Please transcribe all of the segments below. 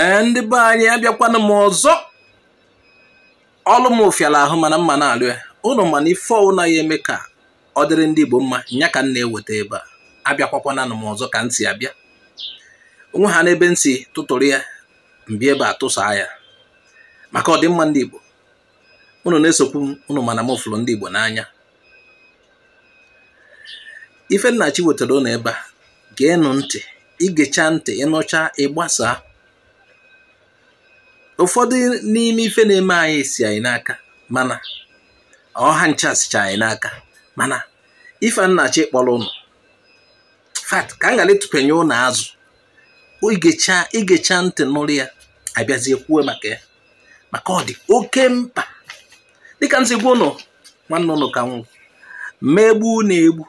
ee ndị be anyị abịakwana m ọzọ ọlụ m fịala ahụ mana m ma na-alụ ya ụnụ ma na ife ọwụna ya eme ka ọ dịrị ndị Igbo mma nya ka m na-eweta ebe a abịakwakwananụ m ọzọ ka m si abịa onwe ha n'ebe m si tụtụrụ ya m bịa ebe a tụsaa ya maka ọdịmma ndị Igbo unu na-esokwu m unu ma na m fụrụ ndị Igbo n'anya ife nnachi wetara unu ebe a geenụ ntị i gecha ntị ị nụcha ị gbasaa ụfọdụ n'ime ife na-eme anyị si anyị n'aka mana ọ ha ncha sicha anyị n'aka mana ife nnachi kpọrọ ụnụ fat ka m ghara ịtụpenye ụnụ azụ i gecha ntị nụrụ ya a bịazie kwuo maka ya maka ọ dị oke mkpa dịka m si gwa ụnụ nwanne ụnụ ka m wụ m ma egbu ụnụ egbu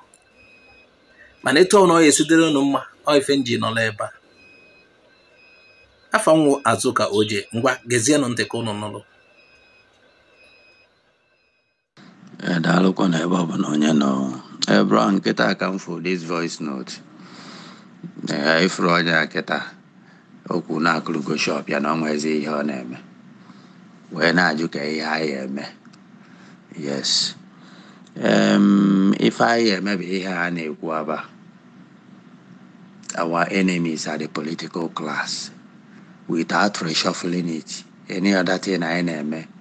mana etu ọwụna ọ ya esi dịrị ụnụ mma ọ ife m ji nọrọ ebe a afa m wụ Azụka Oje ngwa gezienụ ntị ka ụnụ nụrụ Eh, daalụkwa na ebe ọ bụla onye nọ Eh, bro kịta ka m fụ this voice note Eh, ị furu onye a kịta o kwu na akụrụgo shop ya na ọ nwezi ihe ọ na-eme wee na-ajụ ka ihe anyị eme yes Em, ife anyị eme bụ ihe a na-ekwu aba our enemies are the political class without reshuffling it any other thing anyị na-eme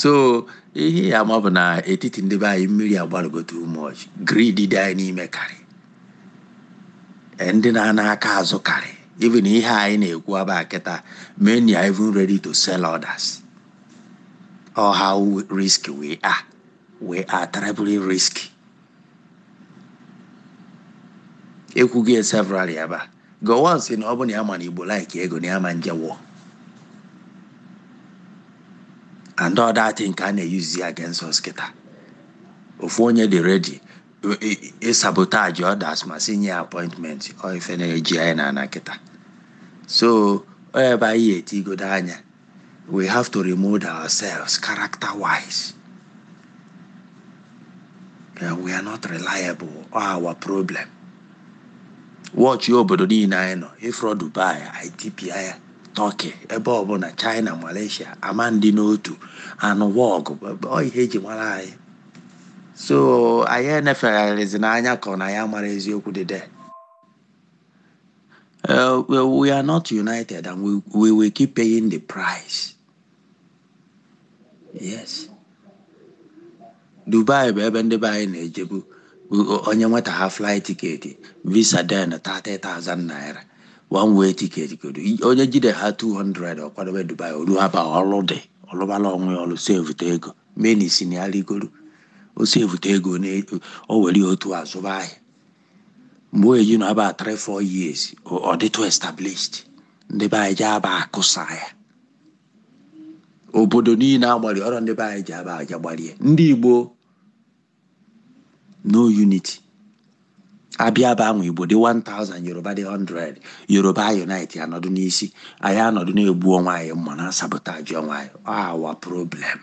so ihe ị ya-ama bụ na etiti ndị be anyị mmiri agbalụgo too much greed dị anyị n'ime karị eh, ndị na-ana aka azụ karị even ihe anyị na-ekwu aba kịta many are even ready to sell others ọ how risky we are we are terribly risky ekwugo ya severally aba Gowon si na ọ bụ na ya ma na Igbo like ego na ya ma nje war and all that thing ka a na-eyuzi against us kịta ofu onye dị ready ị-sabotage others ma si nye ya appointment ọ ife na-eji anyị na ana kịta so ọ ebe anyị ya-etigodo anya we have to remold ourselves character wise. Uh, we are not reliable ọ our problem. Watch-ịa obodo niile anyị nọ ị fụrọ Dubai, Ethiopia, Turkey, ebe ọbụla China, Malaysia, ama ndị n'otu anụ wọgụ ọ ihe eji mara anyị. So anyị enefezina anya ka ọ na anyị amarọ eziokwu dị there. Uh, well, we are not united and we, we will keep paying the price. Yes. Dubai bụ ebe ndị be anyị na-ejebu onye nweta ha flight ticket visa then 30,000 naira one way ticket ka ọ dụ onye jide ha 200 ọ kwadobe Dubai o ru ha aba ọlụ dị ọ lụbala onwe ya ọlụ saveta ego many si na ya rigoro ọ saveta ego o were otu a zụba ahịa mgbe o ji nọ aba 3 4 years ọ dịtụ established ndị be anyị je aba akụsa ya obodo niile agbali ọrụ ndị be anyị je aba ja agbarie ndị igbo no unity a bịa aba ahụ igbo dị 1000 yoruba dị 100 yoruba unite anọdụ n'isi anyị anọdụ na-egbu onwe anyị mma na-sabotage onwe anyị our problem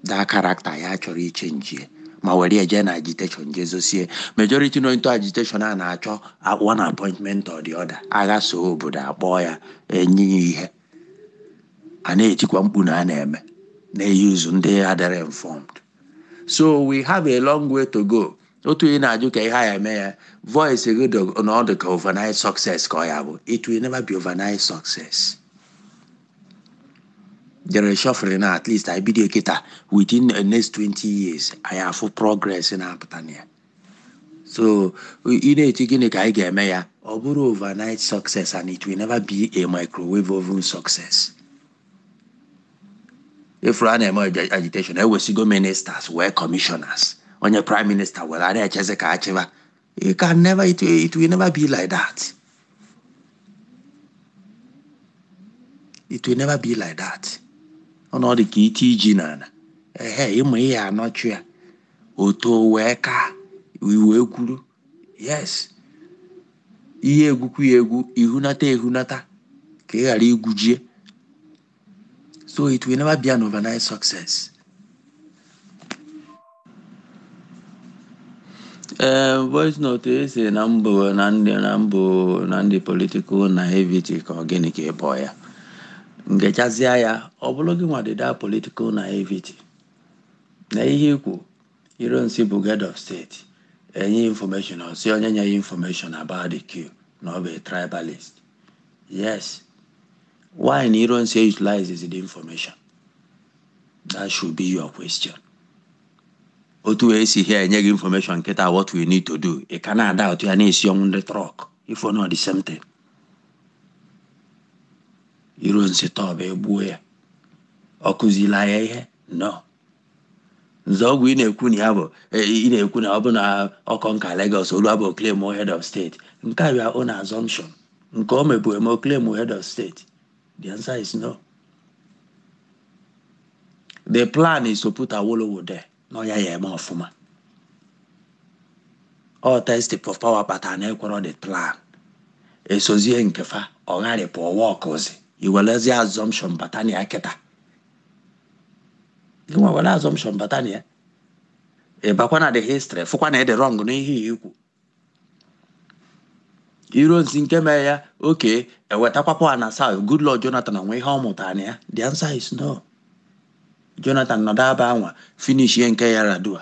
that character ya chọrọ ichange ya ma were ya jee na agitation jezosie majority nọ into agitation a na-achọ a- one appointment or the other agha so obodo akpọọ ya enye ya ihe a na-etikwa mkpu na a na-eme na-use ndị adịrị informed so we have a long way to go otu ị na-ajụ ka ihe a ya-eme ya voice gị dị na ọ dị ka overnight success ka ọ ya-abụ it will never be overnight success je reshuffle na at least anyị bido kịta within the next 20 years anyị afụ progress na-apụta na ya so ị na-eche gịnị ka anyị ga-eme ya ọ bụrụ overnight success and it will never be a microwave oven success ị fụrụ a na-eme agitation e wesigo ministers wee commissioners onye prime minister were a na-echezi ka a chịba It can never, it, it will never be like that. It will never be like that. Ọ na ọ dị ka i tie ji n'ala. Ehe, ị ma ye anọchi ya. O to wee ka i wee gwuru. Yes. I ye egwukwu ya egwu, i hunata ehunata ka ị ghara igwujie. So it will never be an overnight success. ee voice note ị sị na m bụ na m dị na m bụ na m dị political naivety ka ọ gịnị ka ị kpọ ya m gechazịa ya ọ bụrụ gị nwa dị that political naivety na ihe i kwu Ironsi bụ head of state e nye ya information ọ sị onye nye ya information about the coup na ọ bụ a tribalist yes Why na Ironsi utilizes the information? That should be your question. Otu e si ha enye gị information kịta what we need to do. Ị ka na-doubt ya na-esi ọnwụ ndị trọk ị fụ na the same thing. Ironsi tọọ bụ egbuo ya. Ọ kụzila ya ihe? No. Nzeogwu ị na-ekwu na ya bụ e, ị na-ekwu na ọ bụ na ọ conquer Lagos olu abụ claim head of state nke a your own assumption nke ọ mebu eme claim head of state the answer is no the plan is to put Awolowo there na ọ ya ya eme ọfụma ọ taste for power pata na ekwọrọ the plan esozie nke fa ọ gharịpụ ọwa ọkụzi i welezie assumption bata na ya kịta gị nwa were assumption bata na ya ị bakwa na the history fụkwa na ị dị wrong n'ihe ya i kwu Ironsi nke mere ya okay ewetakwa power na south Goodluck Jonathan o nwe ihe ọ mụtara na ya the answer is no Jonathan nọdụ aba anwa finishie nke Yar'Adua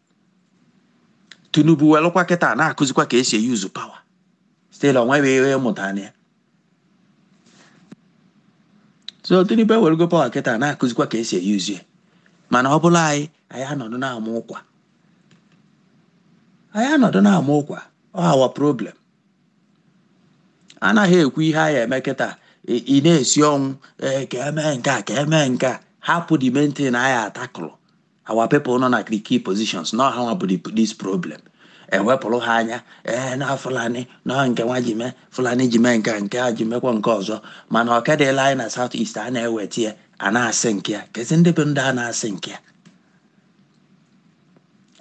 Tinubu welụkwa kịta na-akụzikwa ka esi e-use power still onweghị ihe ị mụta na ya so Tinubu ewerego power kịta na-akụzikwa ka esi e-use ya mana ọ bụlụ anyị anyị anọdụ na-ama ụkwa anyị anọdụ na-ama ụkwa ọ our problem anaghị ekwu ihe anyị eme kịta ị na-asị ọnwụ ee ka emee nke a ka emee nke a hapụ the main thing anyị atakụrụ our people nọ na key positions na ọ ha nwa bụ this problem ewepụrụ ha anya ee na Fulani na nke nwa ji mee Fulani ji mee nke a nke a ji mekwa nke ọzọ mana oke dịlị anyị na south east a na-eweta ya a na-asink ya kezi ndị bụ ndị a na-asink ya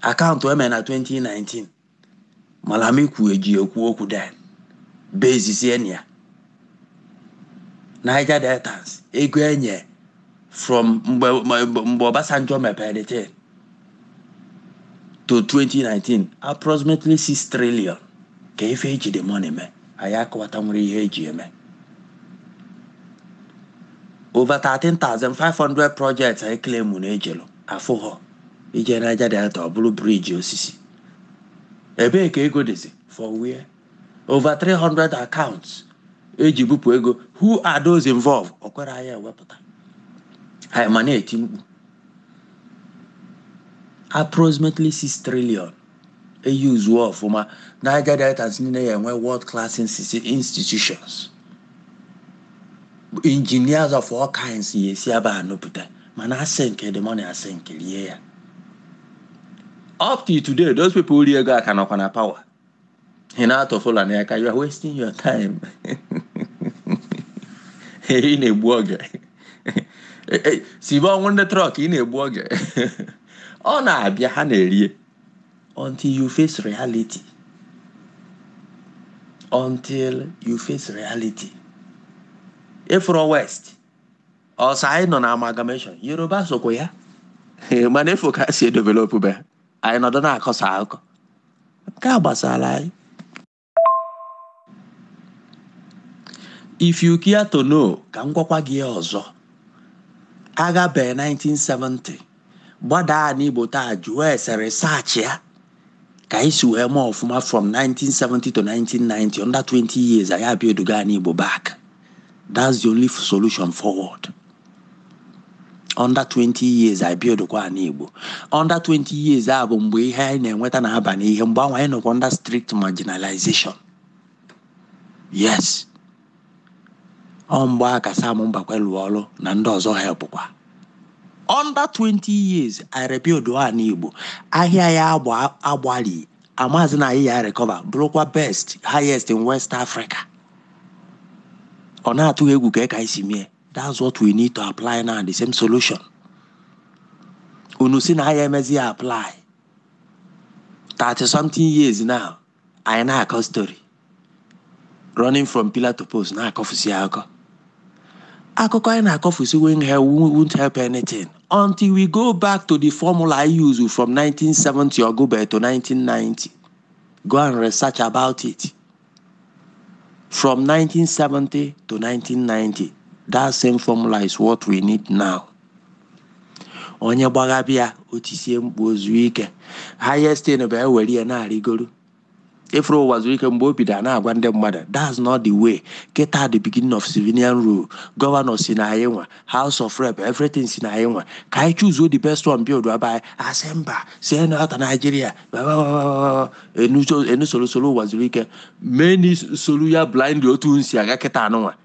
account emere na 2019 Malami kwuo eji ekwu okwu then basisie na ya Niger Deltans ego enye from mgbe mgbe mgbe Obasanjo mepere the thing to 2019 approximately 6 trillion ka ife eji the money mee anyị akọwata nwere ihe eji eme over 13,500 projects a claim na ejelu afụghọ i je Niger Delta ọ bụrụ bridge osisi ebee ka ego dịzi for where over 300 accounts eji bupụ ego who are those involved ọ kwara anyị ewepụta anyị ma na-eti mkpu approximately 6 trillion e useo ọfụma Niger Deltas niile ya enwe world class institutions engineers of all kinds ya esi aba nupụta mana a sinkie the money a sinkie rie ya up to today those people ri ego a ka nọkwa na power ị na-atụ Fulani aka you are wasting your time ị na-egbu oge simple and the truth ị na-egbu oge ọ na-abịa ha na-erie until you face reality until you face reality ị fụrọ west o so anyị nọ na amalgamation yoruba sokwa ya mana ị fụ ka ha si edevelopụ be anyị nọdụ na-akọsa akụkọ nke a gbasara anyị if you care to know ka m gwakwa gị ọzọ agha bee 1970 gbadaa ana igbo taa jụọ ese research ya ka anyị si wee mee ọfụma from 1970 to 1990 under 20 years anyị abuildụgo ana igbo back that's the only solution forward under 20 years anyị build kwa ana Igbo under 20 years a bụ mgbe ihe anyị na-enweta na-aba n'ihe mgbe ahụ anyị nọkwa under strict marginalization yes ọ mgbe a ka Sam Mbakwe lụọ ọrụ na ndị ọzọ helpụkwa under 20 years anyị rebuild ana Igbo ahịa ya agbalị amazi na anyị ya recover bụrụkwa best highest in West Africa ọ na-atụ egwu ka anyị si mie that's what we need to apply now the same solution unu sị na anyị emezi ya apply 30 something years now anyị na-akọ story running from pillar to post na-akọfusi akụkọ akụkọ anyị na-akọfusi won't help, won't help anything until we go back to the formula anyị used from 1970 or go back to 1990 go and research about it from 1970 to 1990 that same formula is what we need now onye gbagha bịa o tisie mkpu o zuo ike highest thing bụ e were ya na-arịgoro ị fụrụ Uwazuruike mgbe o bido a na-agwa ndị mmadụ that's not the way kịta the beginning of civilian rule governor si na anyị nwa house of rep everything si na anyị nwa ka anyị chuzuo the best one build be anyị a sị mba si na ọta naijiria unu solo solo Uwazuruike many solu ya blindly otu unu si aga kịta nụnwa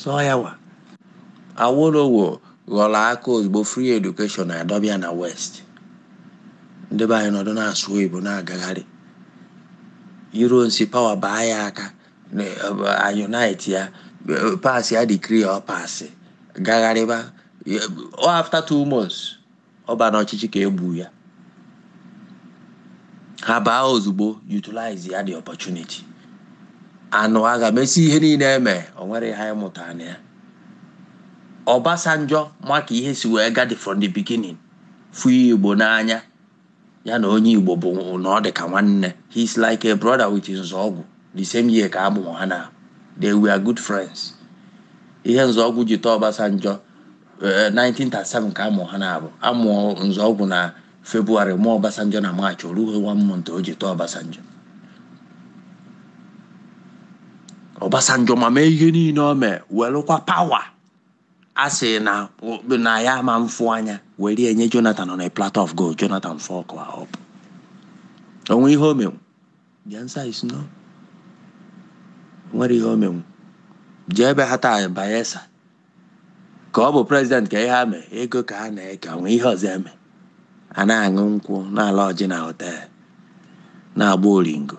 sọ ya wa Awolowo ghọrọ aka ozugbo free education a dobe ya na west ndị be anyị nọdụ na-asụ oyibo na-agagharị Ironsi power baa ya aka unite ya pass ya decree ọ pass gagharịba after two months ọ ba n'ọchịchị ka e gbu ya ha baa ozugbo utilize ya the opportunity a nụ agha mesi ihe niile eme o nwere ihe anyị mụtara na ya Obasanjo maka ihe si wee gadi from the beginning fụ igbo n'anya ya na onye igbo bụ na ọ dị ka nwanne he is like a brother with Nzeogwu the same year ka amụrụ ha na they were good friends ihe Nzeogwu ji tọọ Obasanjo 1937 eh, ka amụrụ ha na abụọ amụọ Nzeogwu na february mụọ Obasanjo na march o rughị one month o ji tọọ Obasanjo Obasanjo ma mee ihe niile o mee welụkwa power a sị na na ya ama mfụ anya were ya nye jonathan on a platter of gold jonathan fuck up o nwe ihe o menwu the answer is no nwere ihe o menwu jee ebe ha taa bayelsa ka ọ bụ president ka ihe ha mee ego ka ha na-eke o nwe ihe ọzọ eme a na-aṅụ nkwụ na-ala ọjị na hotel na-agba oringo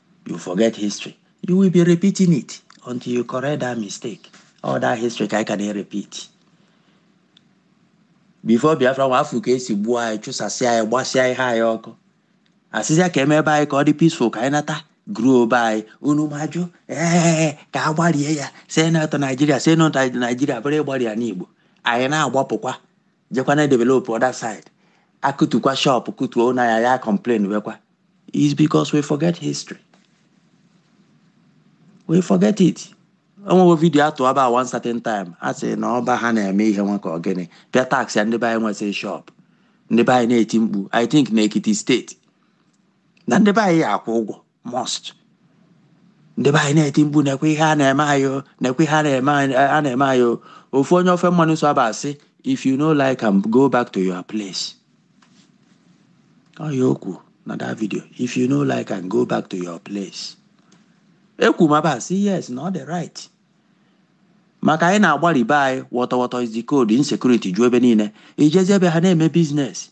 you forget history you will be repeating it until you correct that mistake all that history ka anyị ka na-repeat before biafra war afụ ka esi gbuo anyị chụsasịa anyị gbasịa ihe anyị ọkụ asịzịa ka emee be anyị ka ọ dị peaceful ka anyị nata gruo be anyị unu majụ ee ka a gbarie ya say no to nigeria say no to nigeria bụrụ ịgbari ana igbo anyị na-agbapụkwa jekwa na-develop other side akụtukwa shop kụtuo na ya ya complain wekwa is because we forget history we forget it e nwe one video atụba one certain time a sị na ọba ha na-eme ihe nwa ka ọ gịnị bịa tax ya ndị be anyị nwesịrị shop ndị be anyị na-eti mkpu i think na ekiti state na ndị be anyị ya akwụ ụgwọ must ndị be anyị na-eti mkpu nekwe ihe a na-eme anyị o, nekwe ihe a na-eme anyị a na-eme anyị o. ofu onye ofe mmanụ so aba asị if you no like am go back to your place ọ ya o kwu na that video if you no like am go back to your place ekwu m aba asị yes na ọ dị right maka anyị na-agbari be anyị wọtọwọtọ is the code insecurity ju ebe niile ijezi ebe ha na-eme business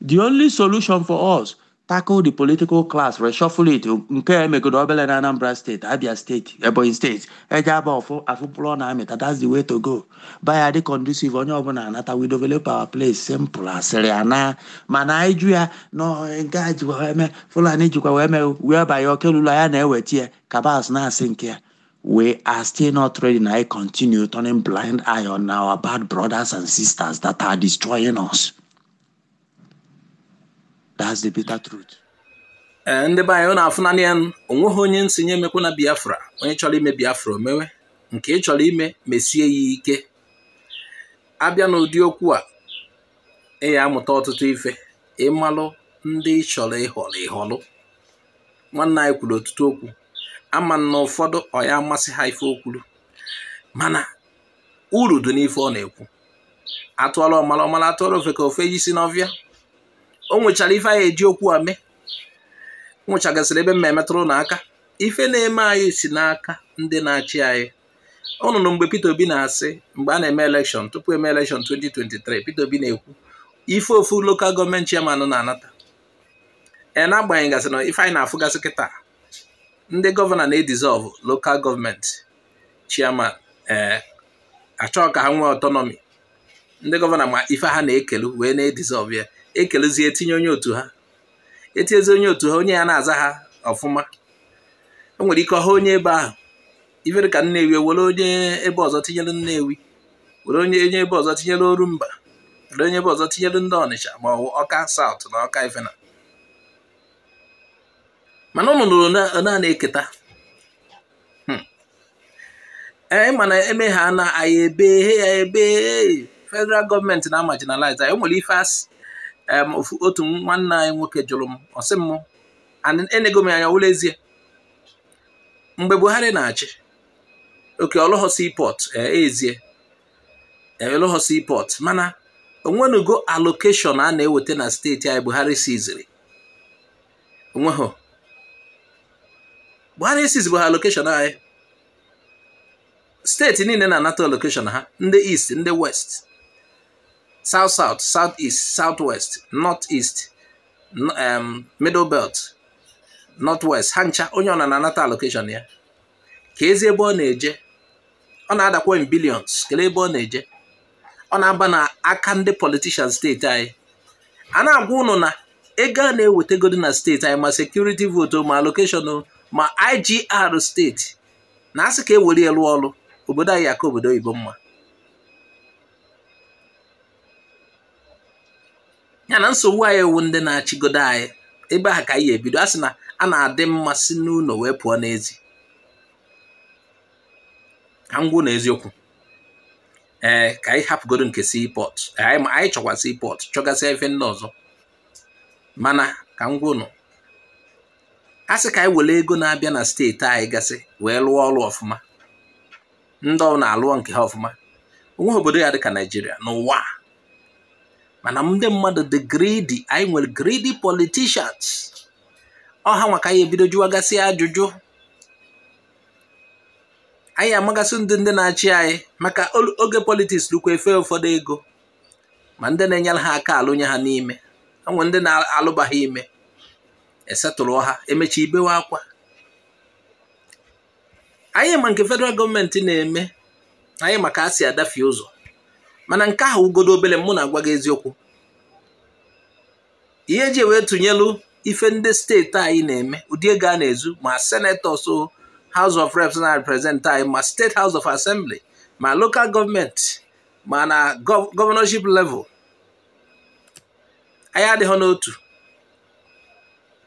the only solution for us tackle the political class reshuffle it nke a emegodo obere na anambra state abia state ebonyi state e je aba ọfụ afụ mkpụrụ ọ na-amịta that's the way to go be anyị dị conducive onye ọbụla anata we develop our place simple asịrị ya na mana anyị jụ ya na ọ- nke a jikwa wee mee fulani jikwa wee mee wee banye okelula ya na-eweta ya cabals na-asị nke ya We are still not ready na anyị continue turning blind eye on our bad brothers and sisters that are destroying us. That's the bitter truth. ee ndị be anyị ọ na-afụ nanị ya o nweghị onye m sị ya emekwana biafra onye chọrọ ime biafra o mewe nke ị chọrọ ime mesie ya ike abịa n'ụdị okwu a ị ya amụta ọtụtụ ife ịmalụ ndị ị chọrọ ịhọrọ ịhọrọ nwanne anyị kwuru ọtụtụ okwu ama na ụfọdụ ọ ya-amasị ha ife o kwuru mana uru dị n'ife ọ na-ekwu atụọra ọmara ọ mara atụọra ofeke o fenye isi n'ọfịa o nwechara ife anyị eji okwu a mee o nwechagasịrị ebe mma emetụrụ na aka ife na-eme anyị si n'aka ndị na-achị anyị ụnụ nụ mgbe Peter Obi na-asị mgbe a na-eme elekshọn tupu eme elekshọn 2023 Peter Obi na-ekwu ife ofu lokal gọọmenti chairman na-anata ee n'agbanyeghị gasị na ife anyị na-afụgasị kịta ndị gọvanọ na-edizọlvụ lokal gọọmenti chairman ee achọghị ka ha nwee ọtọnọmi ndị gọvanọ ma ife ha na-ekelu wee na-edizọlvụ ya ekeluzie etinye onye otu ha etinyezi onye otu ha onye ya na-aza ha ọfụma o nwere ike ọha onye ebe ahụ ife dị ka Nnewi e were onye ebe ọzọ tinyere Nnewi were onye ebe ọzọ tinyere Orumba were onye ebe ọzọ tinyere ndị Ọnịcha ma ọ bụ Ọka saụt na Ọka ifena mana ụnụ nụrụ na a na-eketa hmm. ee mana eme ha na anyị ebe ya ebe federal gọọmenti na-amarginalize anyị nwere ife asị otu nwanne anyị nwoke jụrụ m ọ sị m enego m anya wụlọ ezie mgbe Buhari na-achị oke ọ lụghọ seaport ezie ọ lụghọ seaport mana o nwenugo allocation a na-eweta na steeti anyị Buhari siziri o nweghọ Buhari esizibuhọ allocation anyị steeti niile na-anata allocation ha ndị east ndị west south south south east south west north east middle belt north west ha ncha onye ọbụna na-anata allocation ya keezi ebe ọ na-eje ọ na-adakwa in billions kelee ebe ọ na-eje ọ na-aba na aka ndị politishan steeti anyị a na-agwa ụnụ na ego a na-ewetegodi na steeti anyị ma sekuriti votu ma allocation ma IGR steeti na a sị ka e were ya lụọ ọrụ obodo anyị aka obodo oyibo mma ya na nsogbu anyị wụ ndị na-achịgodo anyị ebe ahụ ka anyị ya-ebido a sị na a na-adị mma si n'ụlọ wee pụọ n'ezi ka m gwa ụnụ eziokwu ee ka anyị hapụgodo nke seaport anyị chọkwa seaport chọgasịa ife ndị ọzọ mana ka m gwa ụnụ a sị ka anyị were ego na-abịa na steeti anyị gasị wee lụọ ọrụ ọfụma ndị ọ na-alụ nke ha ọfụma onweghị obodo ya dịka naijiria n'ụwa mana ndị mmadụ dị greedy anyị nwere greedy politicians ọha nwa ka anyị ebido jụwagasị ajụjụ anyị amagasị ndị ndị na-achị anyị maka oge politics lukwa efe ụfọdụ ego ma ndị na-enyere ha aka alụnye ha n'ime enwere ndị na-alụba ha ime esetụrụ ha emecha ibewe akwa anyị ma nke federal gọọmenti na-eme anyị maka a si adafie ụzọ mana nke ahụ bụgodu obele mụ na-agwa gị eziokwu ihe eji wee tụnyelu ife ndị steeti anyị na-eme ụdị ego a na-ezu ma senators House of Reps na-represent anyị ma State House of Assembly ma local gọọmenti ma na governorship level anyị adịghị n'otu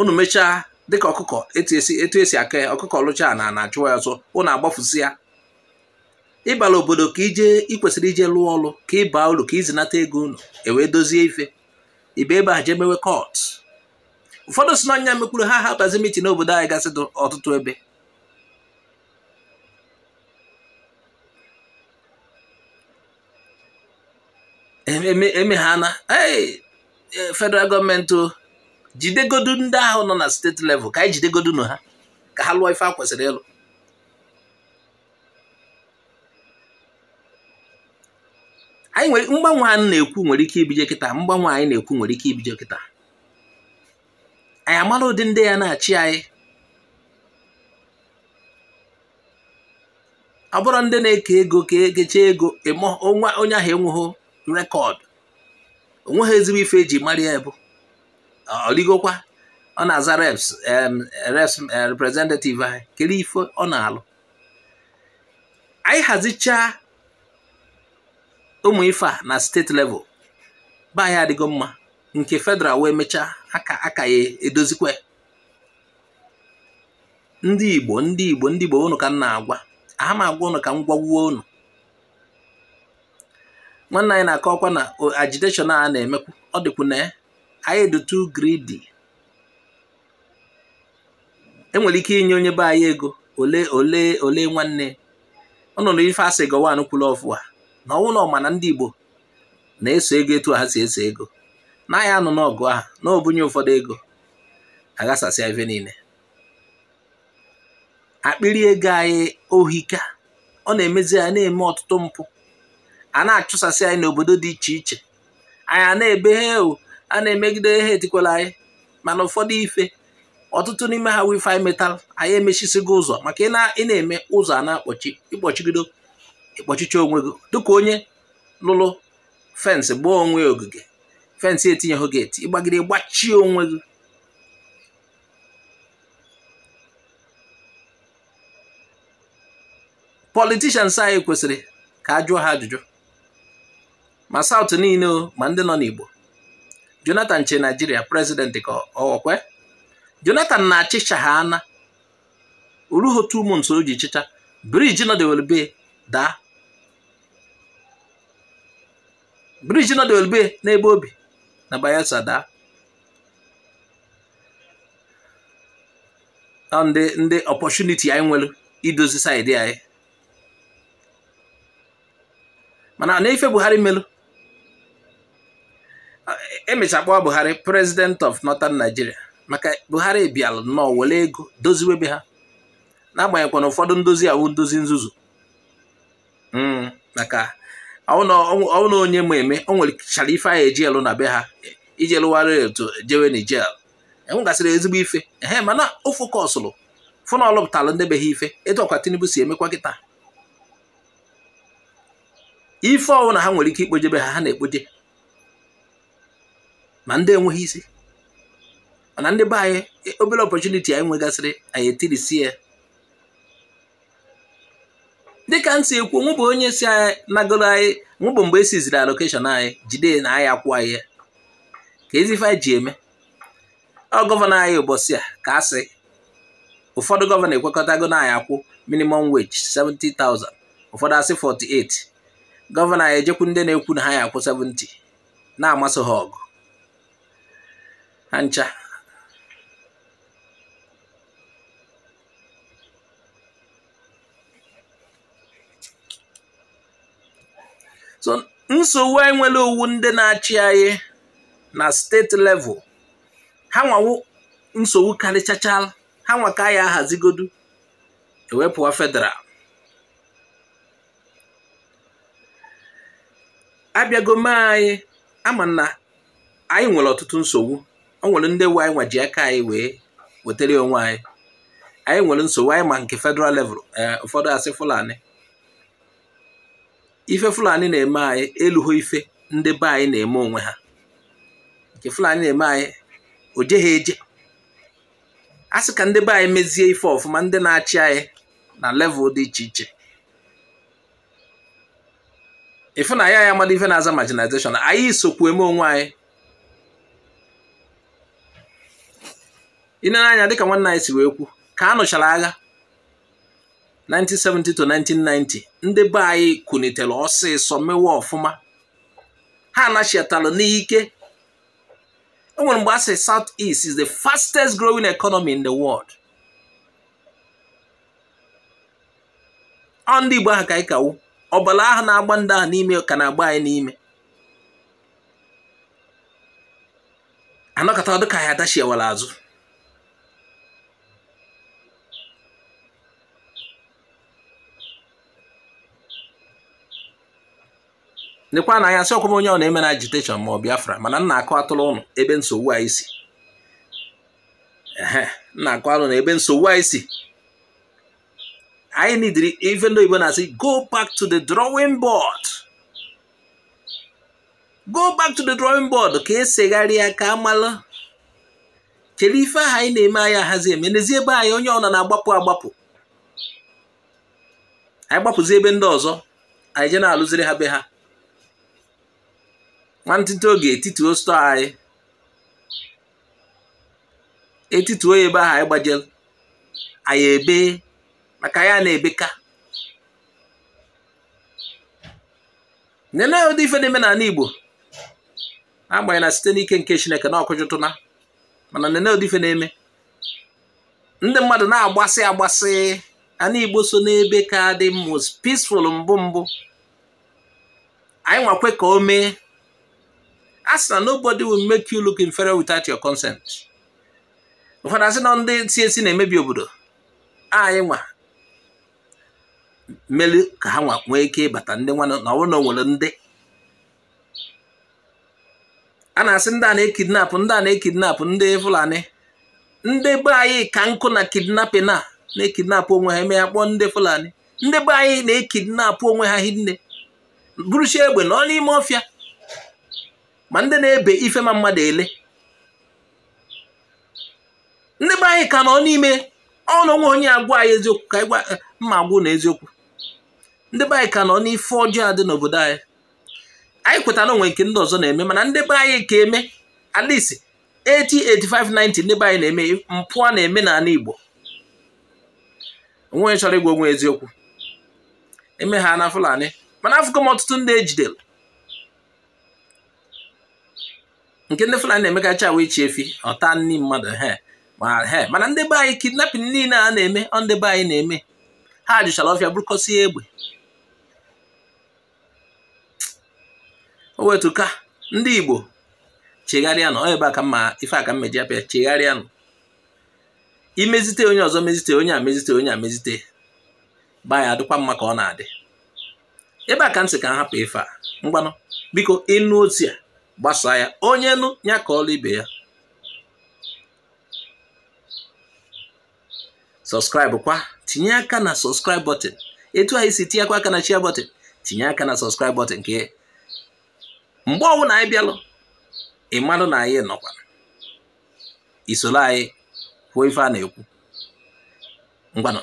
unu mechaa dịka ọkụkọ etu esi aka ya ọkụkọ lụcha na na achụwa ya ọsọ unu agbafusia ịbala obodo ka ije ikwesịrị ije lụọ ọlụ ka ịba ụlọ ka izinata ego unu ewee dozie ife ibe ebe a jee mewe cult ụfọdụ si n'anya mekwuru ha ha bazi meeting n'obodo anyị gasị ọtụtụ ebe eme ha na e, federal gọọmenti jidegodu ndị ahụ nọ na steeti level ka anyị jidegodunụ ha ka ha lụọ ife a kwesịrị ịlụ anyị nwere mgbanwe anyị na-ekwu nwere ike ibije kịta mgbanwe anyị na-ekwu nwere ike ibije kịta anyị amara ụdị ndị ya na-achị anyị ọ bụrụ ndị na-eke ego ka ekecha ego onye ahụ enweghị record onweghị ezigbo ife eji mara ya bụ ọligokwa ọ na-aza reps reps eh, representative anyị kedu ife ọ na-alụ anyị hazichaa ụmụ ife a na steeti level be anyị adịgo mma nke federal wee mechaa aka ya edozikwa ndị igbo ndị igbo ndị igbo unu ka m na-agwa aha m agwa unu ka m gwagwuo unu nwanne anyị na-akọ ọkwa na agitation a na-emekwu ọ dịkwu na anyị dị too greedy enwere ike inye onye be anyị ego ole ole ole nwanne ụnụ na ife asị Gowon kwuru ọfụụ a na ọ wụ na ọ ma na ndị igbo na-eso ego etu ha si eso ego na ya anụna ọgụ ahụ na o bunye ụfọdụ ego aghasasịa ife niile akpịrị ego anyị o hika ọ na-emezi anyị na-eme ọtụtụ mpụ a na-achụsasị anyị n'obodo dị iche iche anyị a na-ebe hewu a na-emegide ha etikwala anyị mana ụfọdụ ife ọtụtụ n'ime ha wụ ife anyị metalụ anyị emechisigo ụzọ maka ị na-eme ụzọ a na-akpọchi ịkpọchigido ịkpọchicha onwe gị dịka onye lụrụ fensị gbaa onwe ogige fensị etinyeho geeti ịgbagide gbachie onwe gị politicians anyị kwesịrị ka a jụọ ha ajụjụ ma South niile o ma ndị nọ n'Igbo Jonathan chị Nigeria president ka ọkwe Jonathan na-achịcha ha ana o ruho two months o ji chịcha briji nọdewere be daa briji nọdewere be n'ebe o bi na Bayelsa daa ndị ndị opportunity anyị nwere idozi side anyị mana na ife Buhari melu emecha a kpọọ Buhari president of northern Nigeria maka Buhari bịalụ nnọọ were ego doziwe be ha n'agbanyeghịkwa na ụfọdụ ndozi a wụ ndozi nzuzu hmm, maka ọ wụ na onye ma eme o nwerechara ife anyị eji elu na be ha iji lụwara etu jewe Niger enwegasịrị ezigbo ife ehe mana o fokọsụrụ fụ na ọ lụpụtara ndị be ha ife etu ọkwa Tinubu si emekwa kịta ife ọwụna ha nwere ike ikpoje be ha ha na-ekpoje ma ndị enweghị isi mana ndị be anyị e, obere opportunity anyị nwegasịrị anyị etirisie dịka m si ekwu mụ bụ onye si anyị nagoro anyị mụ bụ mgbe esiziri allocation anyị jide na anyị akwụ anyị ya ka ezi ife anyị ji eme ọ gọvanọ anyị ụbọchị a ka a sị ụfọdụ gọvanọ ekwekọtago na anyị akwụ minimum wage 70,000 ụfọdụ asị 48 gọvanọ anyị ejekwu ndị na-ekwu na ha ya-akwụ 70 na-amasị ha ọgụ ha ncha so nsogbu anyị nwere ọ wụ ndị na-achị anyị na state level ha nwa wụ nsogbu karịchachara ha nwa ka a ya-ahazigodu ewepụwa federal abịago mee anyị ama na anyị nwere ọtụtụ nsogbu o nwere ndị wụ anyị nwa ji aka anyị wee wetara onwe anyị anyị nwere nsogbu anyị ma nke federal level eh, ụfọdụ asị Fulani ife Fulani na-eme anyị eluho ife ndị be anyị na-eme onwe ha nke Fulani na-eme anyị o jeghị eje a sị ka ndị be anyị mezie ife ọfụma ndị na-achị anyị na level dị iche iche ịfụ na ya ya mmadụ ife na-aza marginalization anyị sokwu eme onwe anyị i nere anya dịka nwanne anyị si wee kwu ka a nụchara agha 1970 to 1990 ndị be anyị kunitere ọsịsọ mewe ọfụma ha anachiatara n'ike e nwere mgbe a sị South East is the fastest growing economy in the world ọ ndị Igbo ahụ ka anyị ka wụ ọbala ahụ na-agba ndị ahụ n'ime ka na-agba anyị n'ime a nọkata ọ dị ka anyị adachiewara azụ lekwa na anya asịọkwa m onye ọ na emena agitation ma ọ Biafra mana m na-akọwatụrụ ụnụ ebe nsogbu anyị si m na-akọwalụ ụnụ ebe nsogbu anyị si anyị needịrị ife ndị oyibo na-asị go back to the drawing board go back to the drawing board ka e segharịa ka a mara kedu ife ahụ anyị na-eme anyị ahazi eme nezie be anyị onye ọ na na-agbapụ agbapụ anyị gbapụzi ebe ndị ọzọ anyị eje na-alụziri ha be ha nwantịtị oge etituo store anyị etituo ya ebe ahụ anyị gbajere anyị ebe maka ya na-ebeka nene ụdị ife na-eme n'ala Igbo agbanyeghị na site n'ike nke Chineke na ọ kụjụtụna mana nene ụdị ife na-eme ndị mmadụ na-agbasị agbasị ana Igbo so n'ebe ka dị most peaceful mbụ mbụ anyị nwa kwe ka o mee a sị na nobody will make you look inferior without your consent ụfọdụ asị na ndị si esi na-emebi obodo anyị nwa mere ka ha nwa nwee ike ịbata ndị nwa na ọ bụrụ na o nwere ndị a na-asị ndị a na-ekidnap ndị a na-ekidnap ndị Fulani ndị be anyị ka nọkwu na kidnapping a na-ekidnap onwe ha eme ya kpọọ ndị Fulani ndị be anyị na-ekidnap onwe ha hinne buruchi egbe nọ n'ime ọfịa ma ndị na-ebe ife ma mmadụ ele ndị be anyị ka nọ n'ime ọnụ nwe onye agwa anyị eziokwu ka anyị gwa mma agwụ na eziokwu ndị be anyị ka nọ n'ife ọjọọ dị n'obodo anyị anyị kwetara o nwe nke ndị ọzọ na-eme mana ndị be anyị ka eme at least 80 85 90 ndị be anyị na-eme mpụ a na-eme n'ala Igbo onye chọrọ ịgwa onwe eziokwu eme ha na Fulani mana afụgo m ọtụtụ ndị ejidere nke ndị Fulani na-emekacha wee chị efi ọ taa nni mmadụ he mana ndị be anyị kidnapping niile a na-eme ọ ndị be anyị na-eme ha juchara ọfịa burukọsie egbe o wetu ka ndị Igbo chegharịanụ ebe a ka mma ife aka mmeji apịa chegharịanụ i mezite onye ọzọ mezite onye a mezite onye a mezite be anyị adịkwa mma ka ọ na-adị ebe a ka m sị ka m hapụ ife a ngwanụ biko ị nụ ozi a gbasaa ya onye nụ ya kọọlụ ibe ya subscribe kwa tinye aka na subscribe button etu anyị si tinyekwa aka na share button tinye aka na subscribe button nke mgbe ọbụla anyị bịalụ ị malụ na anyị nọkwa i soro anyị kwuo ife a na-ekwu ngwanụ